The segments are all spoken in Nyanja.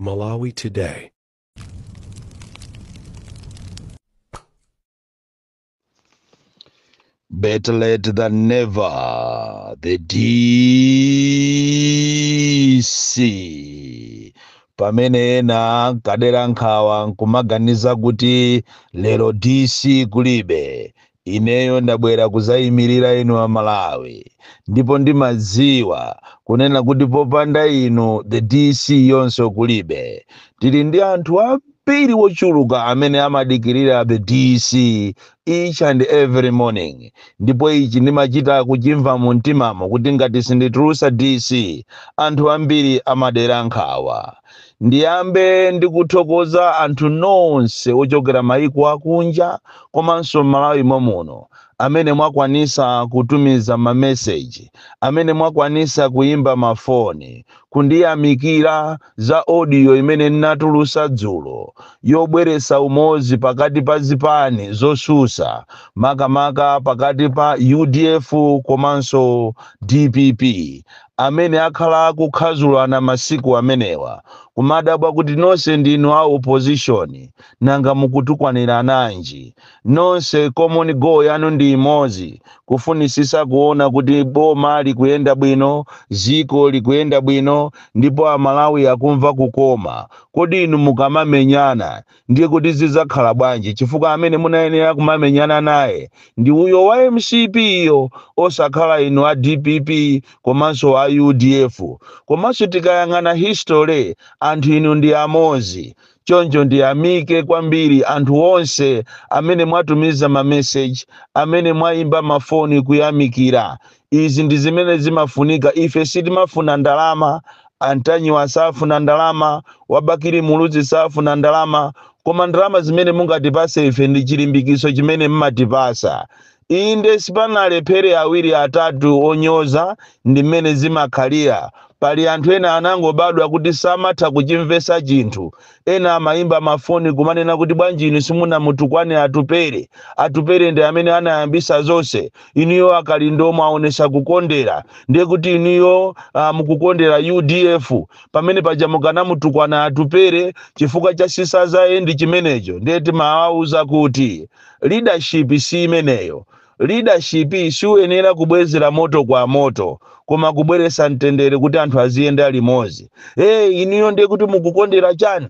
Malawi Today. Better late than never. The DC. pamene ena kadera nkhawa nkumaganiza kuti lero DC kulibe Ineyo ndabwera kuzaimilira inu a Malawi ndipo ndimadziwa kunena kuti popanda inu the DC yonse kulibe. Tili ndi anthu ambiri ochuluka amene amadikilira the DC each and every morning ndipo ichi ndimachita kuchimva mu mtimamo kuti ngati sinditulusa DC anthu ambiri amadera nkhawa. Ndiyambe ndi kuthokoza anthu nonse ochokera mayiko akunja komanso m'Malawi momuno amene mwakwanisa kutumiza mameseji, amene mwakwanisa kuyimba ma foni kundiyamikira za audio imene ndinatulusa dzulo yobweresa umozi pakati pa zipani zosusa makamaka pakati pa udf komanso dpp. amene akhala akukhazulana masiku amenewa kumadabwa kuti nonse ndinu a opposition nanga mukutukwanirananji nonse common goal yanu ndi imodzi kufunisisa kuona kuti boma likuyenda bwino ziko likuyenda bwino ndipo amalawi akumva kukoma kodi inu mukamamenyana Ndiye kuti zizakhala bwanji chifukwa amene munayenera kumamenyana naye ndi uyo wa mcp yo osakhala inu a dpp komanso a udf komanso tikayang'ana history anthu inu ndi amozi choncho ndiyamike kwambiri anthu onse amene mwatumiza mameseji amene mwayimba ma foni kuyamikira izi ndi zimene zimafunika ife sitimafuna ndalama antanyiwa safuna ndalama wabakili muluzi safuna ndalama koma ndalama zimene mungatipase ife ndi chilimbikiso chimene mmatipasa inde sipanalephere awiri atatu onyoza ndi mmene zimakhalira pali anthu ena anangobadwa kuti samatha kuchimvesa chinthu Ena amaimba mafoni kumanena kuti bwanji inu simunamutukwane Atupele. Atupele ndi amene anayambisa zonse. Inuyo a Kalindo mwaonesa kukondera. Ndiye kuti inuyo mukukondera udf. Pamene paja mukanamutukwana Atupele chifukwa cha scissors end chimenecho. Ndiye timawauza kuti leadership si imeneyo. Leadership siuyenera kubwezera moto kwa moto koma kubweretsa mtendere kuti anthu aziyenda limodzi. Hey, inuyo ndiye kuti mukukondera chani?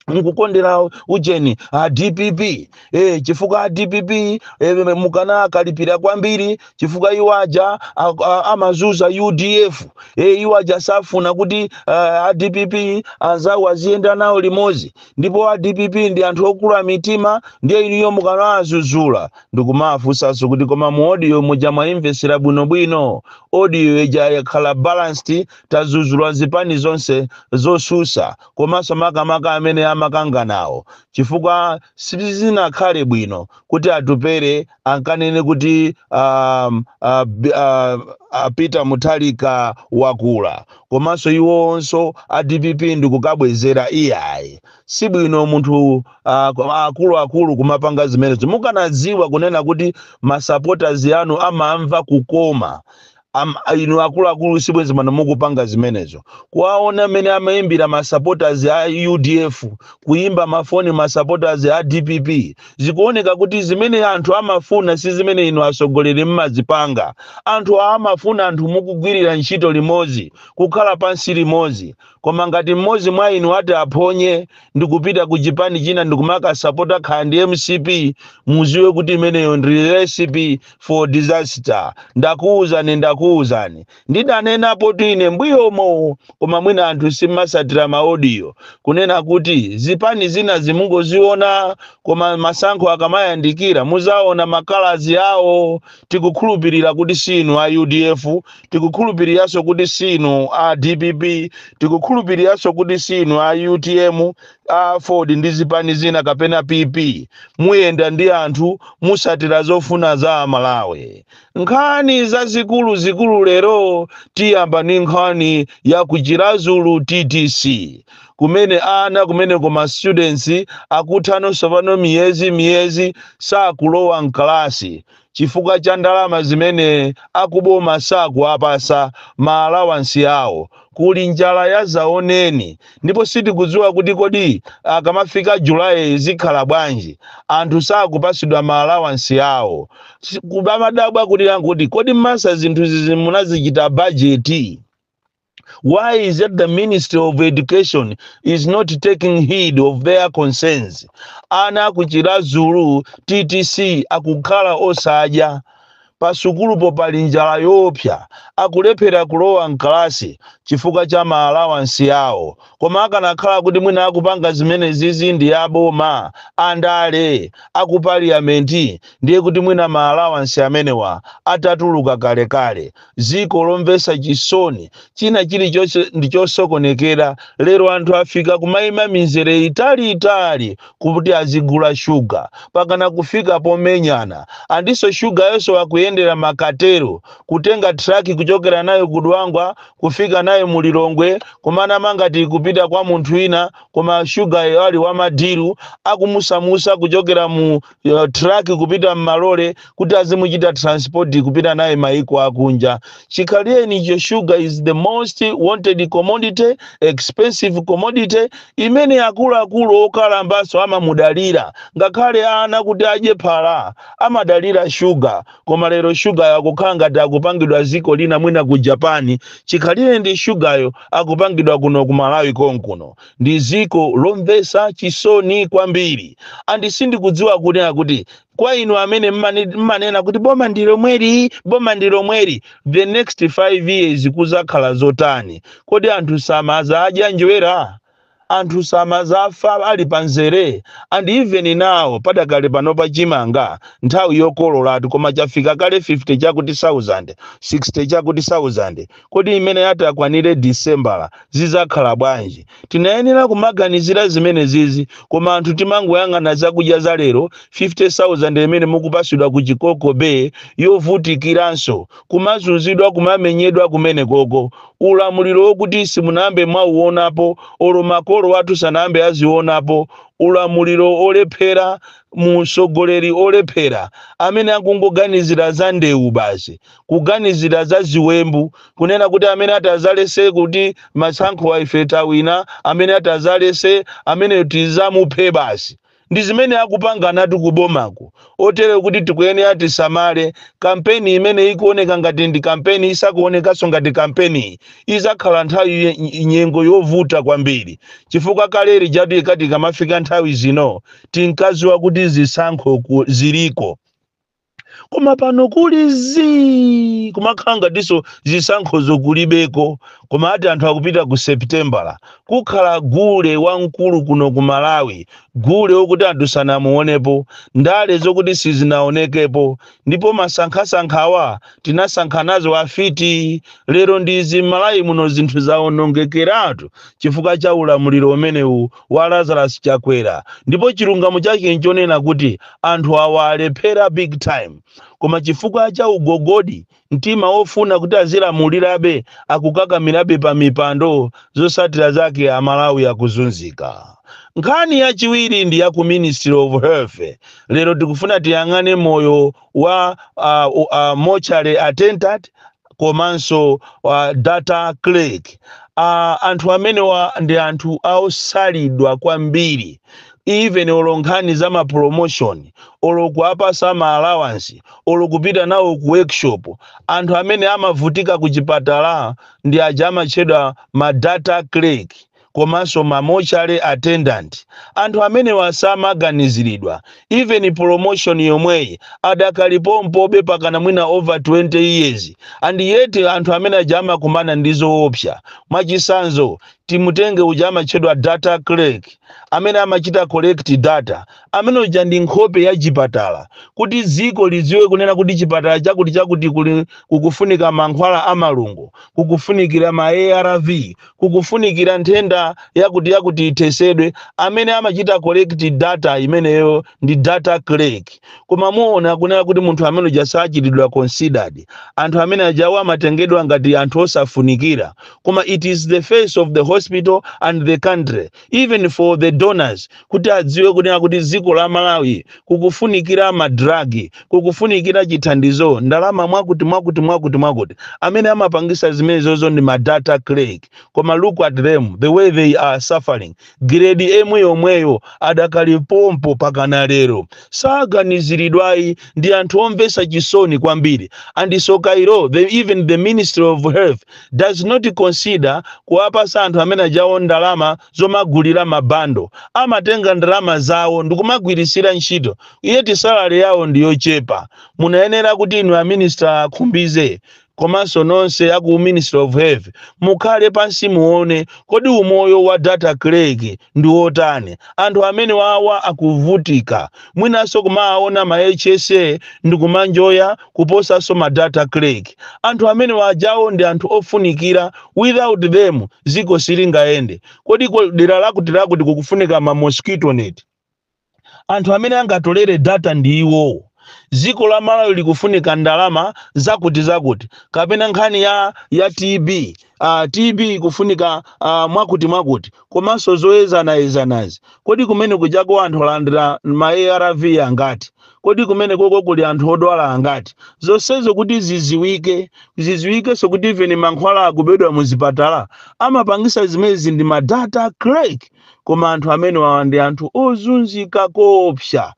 mukukondera ujeni a dpp eh, chifukwa a dpp eh, mukanawakalipira kwambiri chifukwa iwo aja a- a- amazuza udf eh, iwo aja safuna kuti ah, a dpp anzawo aziyenda nawo limodzi ndipo a dpp ndi anthu okula mitima ndiye inuyo mukanawazuzula ndikumawafunsanso kuti koma mu audio muja mwaimvesera bwinobwino audio ija yakhala balanced tazuzula zipani zonse zosusa komanso makamaka amene amakanganawo chifukwa sizinakhale bwino kuti atupere ankanene kuti um, uh, b- uh, uh, peter mutharika wakula komanso iwonso a dpp ndikukabwezera iyayi si bwino munthu ah, ku- akuluakulu kumapanga zimenezo mukanadziwa kunena kuti masupporters anu amamva kukoma Am, inu akuluakulu sibwenzi pano mukupanga zimenezo kuwaona mmene amayimbira masupporters a udf kuyimba mafoni masupporters a dpp zikuoneka kuti zimene anthu amafuna si zimene inu atsogoleri mumazipanga anthu amafuna anthu mukugwirira ntchito limodzi kukhala pansi limodzi koma ngati mmodzi mwa inu atati aphonye ndi kupita ku chipani china ndi kumakasapota khala ndi mcp muziwe kuti imeneyo ndi recipe for disaster ndakuwuzani ndakuwuzani ndidanenapotu ine mbuyomo koma mwina anthu simumasatira maodiyo kunena kuti zipani zina zimungoziona koma masankho akamayandikira muzaona makalazi awo tikukhulupirira kuti si inu a udf tikukhulupiriranso kuti si inu a dpp tikukhulupiriranso kuti si inu a utm a aford ndi zipani zina kapena pp muyenda ndi anthu musatira zofuna za amalawi nkhani zazikuluzikulu lero tiyamba ndi nkhani ya kuchirazulu ttc kumene ana kumene kuma students akutha no tsopano miyezi miyezi sakulowa mkalasi chifukwa cha ndalama zimene akuboma sakuwapasa ma alawansi awo kuli njala yazaoneni ndipo sitikudziwa kuti kodi akamafika July zikhala bwanji anthu sakupasidwa ma alawansi awo kubamadabwa kuti kuti kodi mesa zinthu zizi munazichita bajeti Why is that the Ministry of Education is not taking heed of their concerns? Ana aku Chiradzulu TTC akukhala osadya pasukulupo pali njala yoopsa akulephera kulowa mkalasi chifukwa cha maalawansi awo koma akanakhala kuti mwina akupanga zimene zizi ndi a boma andale aku paliyamenti ndiye kuti mwina maalawansi amenewa atatuluka kalekale ziko lomvesa chisoni china chilichonse ndichosokonekera lero anthu afika kumaima minzere itali itali kuti azigula shuga pakana kufika pomenyana andiso shugayonso akuyendera makatero kutenga traki kuchokera nayo ku Dwangwa kufika nayo mu Lilongwe kumanama ngati akupita kwa munthu ina koma shugayo ali wa madilu akumusamusa kuchokera mu truck kupita mmalole kuti azimuchita transport kupita naye maiko akunja chikhalirenicho sugar is the most wanted commodity expensive commodity imene akuluakulu okalambanso amamudalira ngakhale ana kuti adye phala amadalira shuga koma lero shugayo akukhala ngati akupangidwa ziko lina mwina ku japani chikhalireni shugayo akupangidwa kuno ku malawi konkuno Ndi ziko lomvesa chisoni kwambiri and sindikudziwa kunena kuti kwa inu amene mmane- mmanena kuti boma ndi lomweli boma ndi lomweli the next 5 years kuzakhala zotani kodi anthu samazadya njerwa anthu samazafa ali panzere and even now padakali panopa chimanga nthawi yokololatu koma chafika kale 50 chakuti 1000 60 chakuti 1000 Kodi mmene ati akwanire Disembala zizakhala bwanji? Tinayenera kumaganizira zimene zizi koma anthu timangoyang'ana zakudya za lero, 50,000 imene mukupasidwa ku Chikoko Bay yovutikiranso, kumazunzidwa kumamenyedwa kumenekoko. Ulamuliro wokuti simunambe mwauonapo olo makolo athu sanambe azionapo, ulamuliro olephera, mtsogoleri olephera amene akungoganizira za ndewu basi. kuganizira za ziwembu kunena kuti amene atazaletse kuti matsankho a ife tawina amene atazaletse amene tizamuphe basi ndi zimene akupanganatu kubomako otere kuti tikuyenera tisamale kampeni imene ikuoneka ngati ndi kampeni isakuonekanso ngati kampeni izakhala nthawi ye- nyengo yovuta kwambiri chifukwa kale lijatu ikati kamafika nthawi zino tinkaziwa kuti zisankho ku- ziliko koma pano kuli zii kumakhala ngatinso zisankhozo kulibeko koma ati anthu akupita ku septembala kukhala gule wamkulu kuno ku malawi gule wokuti anthu sanamuonepo ndale zokuti sizinaonekepo ndipo masankhamasankhawa tinasankha nazo afiti lero ndizi m'malawi muno zinthu zaonongekeratu chifukwa cha ulamuliro umenewu wa Lazarus Chakwera ndipo chilungamo chake nchonena kuti anthu awa alephera big time koma chifukwa cha ugogodi, mtima wofuna kuti azilamulirabe akukakamirabe pa mipando zotsatira zake aMalawi akuzunzika. Nkhani yachiwiri ndi ya ku Ministry of Health lero tikufuna tiyang'ane moyo wa a, a mortuary attendant komanso uh, data clerk uh, anthu amenewa ndi anthu osalidwa kwambiri even olo nkhani za ma promotion olo kuwapasa ma allowance olo kupita nawo ku workshop anthu amene amavutika ku chipatala ndi aja amatchedwa ma data clerk komanso ma mortuary attendant anthu amenewa samaganiziridwa even promotion yomweyi adakali pompobe pakana mwina over 20 years and yet anthu amene aja amakumana ndi zoopsa mwachisanzo timutenge uja amatchedwa data clerk amene amachita collect data amene uja ndi nkhope ya chipatala kuti dziko lidziwe kunena kuti chipatala chakuti chakuti kuli kukufunika mankhwala a malungo kukufunikira ma arv kukufunikira nthenda yakuti yakuti ithesedwe amene amachita collect data imeneyo ndi data clerk koma muona kunena kuti munthu amene uja sachitidwa considered anthu amene ajawo amatengedwa ngati anthu osafunikira koma it is the face of the hospital and the country even for the donors kuti adziwe kunena kuti dziko la malawi kukufunikira madragi kukufunikira chithandizo ndalama mwakuti mwakuti mwakuti mwakuti amene amapangisa zimenezozo ndi madata clerk koma look at them the way they are suffering grade yemwe yomweyo adakali pompo pakana lero saganiziridwayi ndi anthu omvesa chisoni kwambiri and tsoka ilo the, even the ministry of health does not consider kuwapasa anthu amene ajawo ndalama zomagulira ma bundle. Amatenga ndalama zawo ndikumagwiritsira ntchito yet salary yawo ndi yochepa. Munayenera kuti inu a minister a Khumbize komanso nonse aku Ministry of Health mukhale pansi muone kodi umoyo wa data clerk ndi wotani. Anthu amene wawa akuvutika. mwinanso kumawaona ma hsa akumanjoya kuposanso ma data clerk anthu amene wajawo ndi anthu ofunikira without them ziko silingayende kodi ko- dera lakuti lakuti kukufunika ma mosquito net anthu amene angatolere data ndi iwowo dziko la malawi likufunika ndalama zakuti zakuti kapena nkhani ya ya tb uh, tb ikufunika uh, mwakuti mwakuti komanso zoyezanayezanazi, kodi kumene kujako anthu alandira ma arv angati, kodi kumenekoko kuli anthu odwala angati, zonsezo kuti ziziwike, ziziwikenso kuti even mankhwala akubedwa muzipatala, amapangisa zimezi ndi ma data clerk, koma anthu amenewawa ndi anthu ozunzika koopsa.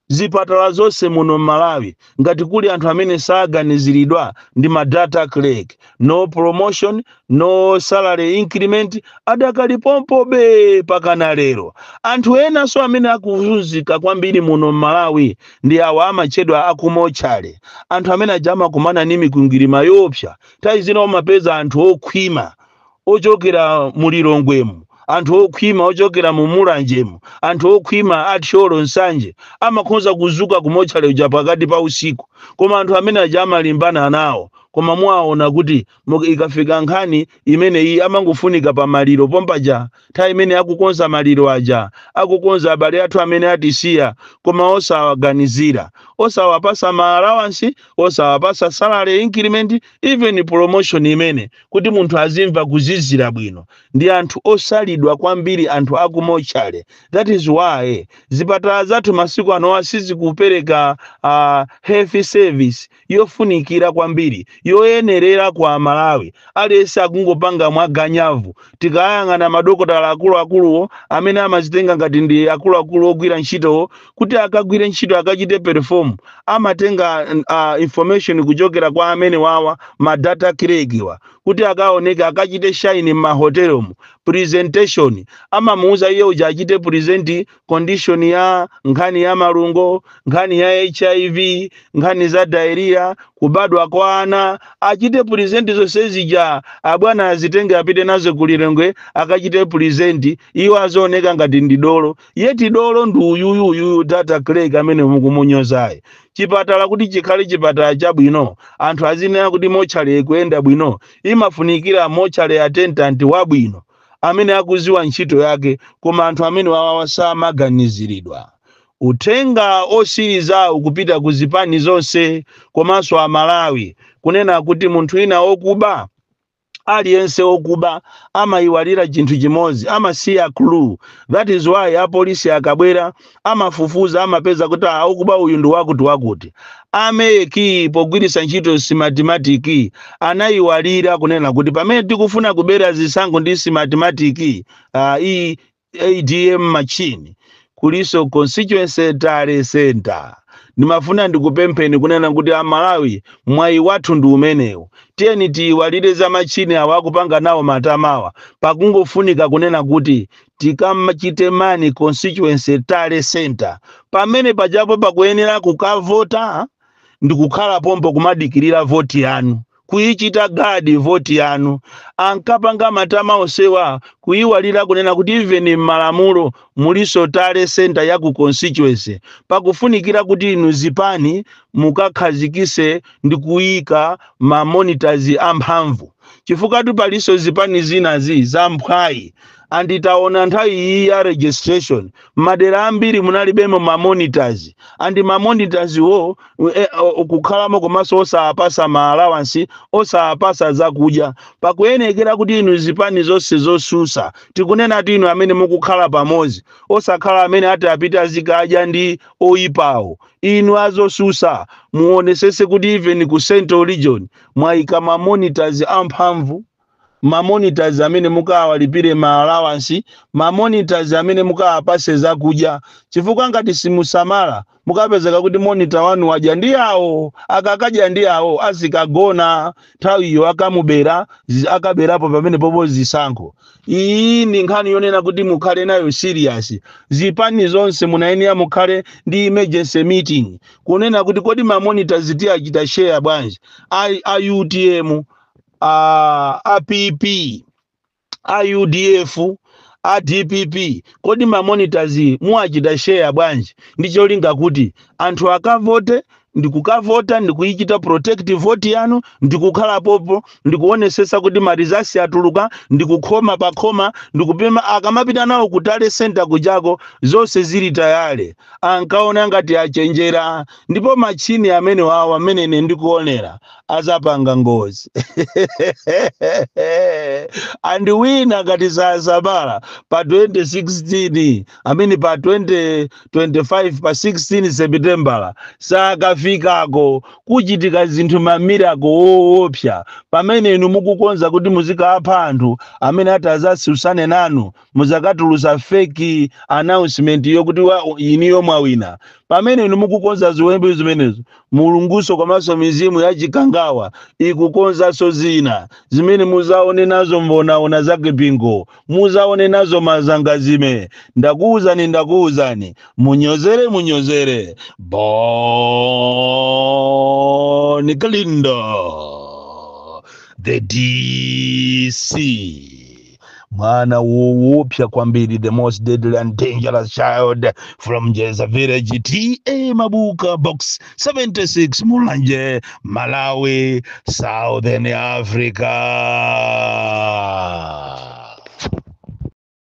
Zipatala zonse muno mmalawi ngati kuli anthu amene saganizilidwa ndi ma data clerk, no promotion, no salary increment adakali pompobe pakana lero. Anthu enanso amene akuzunzika kwambiri muno mmalawi ndi awa amatchedwa aku motchale. Anthu amene aja amakumana ndi mikwingwirima yoopsa nthawi zina umapeza anthu okhwima ochokera mu lilongwemu anthu okhwima ochokera mu mulanjemu anthu okhwima a thyolo nsanje amakhoza kuzuka kumotchale uja pakati pa usiku koma anthu amene aja amalimbana nawo koma muwaona kuti mu- ikafika nkhani imeneyi amangofunika pa maliro pompaja nthawi imene akukonza maliro aja, akukonza abale athu amene atisiya, koma osawaganizira, osawapasa ma allowance, osawapasa salary increment, even promotion imene kuti munthu azimva kuzizira bwino. Ndi anthu osalidwa kwambiri anthu aku mortuary. That is why zipatala zathu masiku anowa sizikupereka uh, health service. yofunikira kwambiri yoyenerera kwa Amalawi. Aliyense akungopanga mwa ganyavu. Tikayang'ana madokotala akuluakuluwo amene amazitenga ngati ndi akuluakulu ogwira ntchitowo kuti akagwire ntchito achite perform amatenga uh, information kuchokera kwa amene wawa ma data clerk wa kuti akaoneke akachite shine m'mahotelomu presentation amamuuza iye uja achite present condition ya nkhani ya malungo nkhani ya hiv nkhani za diarrhea kubadwa kwa ana achite present zonse zija abwana azitenge apite nazo ku Lilongwe akachite present iwo azioneka ngati ndi dolo yeti dolo ndi uyuyu uyuyu data clerk amene mukumunyozayo chipatala kuti chikhale chipatala chabwino anthu azinena kuti mochale ikuyenda bwino imafunikira mochale attendant wabwino amene akuziwa ntchito yake koma anthu amene wawawa samaganizilidwa. Uthenga osiliza ukupita ku zipani zonse komanso a Malawi kunena kuti munthu wina okuba aliyense okuba amayiwalira chinthu chimodzi amasiya clue that is why apolisi akabwera amafufuza amapeza kuti ah, okuba uyu ndi wakuti wakuti ameki pogwiritsa ntchito Smartmatic anayiwalira kunena kuti pamene tikufuna kubera zisankho ndi Smartmatic ah, iyi adm machine kulinso constituency tally center ndimafuna ndikupempheni kunena kuti amalawi mwayi wathu ndi umenewu tiyeni tiyiwalire za machini awa akupanga nawo matamawa pakungofunika kunena kuti tikamachite man constituency tally center pamene pajapo pakuyenera kukavota ndikukhala pompo kumadikirira voti yanu kuyichita gadi voti yanu ankapanga matama onsewa kuyiwalira kunena kuti even m'malamulo mulinso tally center ya ku constituency pakufunikira kuti inu zipani mukakhazikise ndi kuyika mamonitazi amphamvu chifukwatu palinso zipani zinazi zamphwayi and taona nthawi iyi ya registration madera ambiri munalibemo ma monitors and ma monitors wo eh, o- kukhalamo komanso osawapasa ma allowance osawapasa zakudya pakuyenekera kuti inu zipani zonse zosusa tikunenatu inu amene mukukhala pamodzi osakhala amene atiapite azikadya ndi oyipawo inu azosusa muonesese kuti even ku central region mwayika ma monitors amphamvu ma monitors amene mukawalipire ma allowance, ma monitors amene mukawapatse zakudya chifukwa ngati simusamala mukapezeka kuti monitor wanu wadya ndi awo, akakadya ndi awo azikagona nthawiyo akamubera zi- akaberapo pamenepopo zisankho. Iyi ndi nkhani yonena kuti mukhale nayo serious. Zipani zonse munayenera mukhale ndi emergency meeting kunena kuti kodi ma monitors tiyachita share bwanji a, a UTM a, a pp a udf a dpp kodi mamonitors muwachita share bwanji ndi cholinga kuti anthu akavote ndikukavota ndikuyichita protect vote yanu ndikukhala pompo ndikuonesesa kuti ma results atuluka ndikukhoma pakhoma ndikupempha akamapita nawo ku tally center kujako zonse zili tayale ankaona ngati achenjera ndipo machini amenewawa mmene ine ndikuonera azapanga ngozi and wina ngati sasamala pa 2016 I mean pa 2025 pa 16 sepitembala sakafikako kuchitika zinthu mwamirako woopsa pamene inu mukukonza kuti muzikapha anthu amene ati azasusane nanu muzakatulusa fake announcement yokuti wa- inuyo mwawina pamene inu mukukonza ziwembu zimenezo Mulungunso komanso mizimu ya chikangawa ikukonzanso zina zimene muzaone nazo mbonaona zake bingo muzaone nazo mazangazime ndakuuzani ndakuuzani munyozere munyozere Bon Kalindo the DC mwana woopsa kwambiri the most deadly and dangerous child from jeza village ta mabuka box 76 mulanje malawi southern africa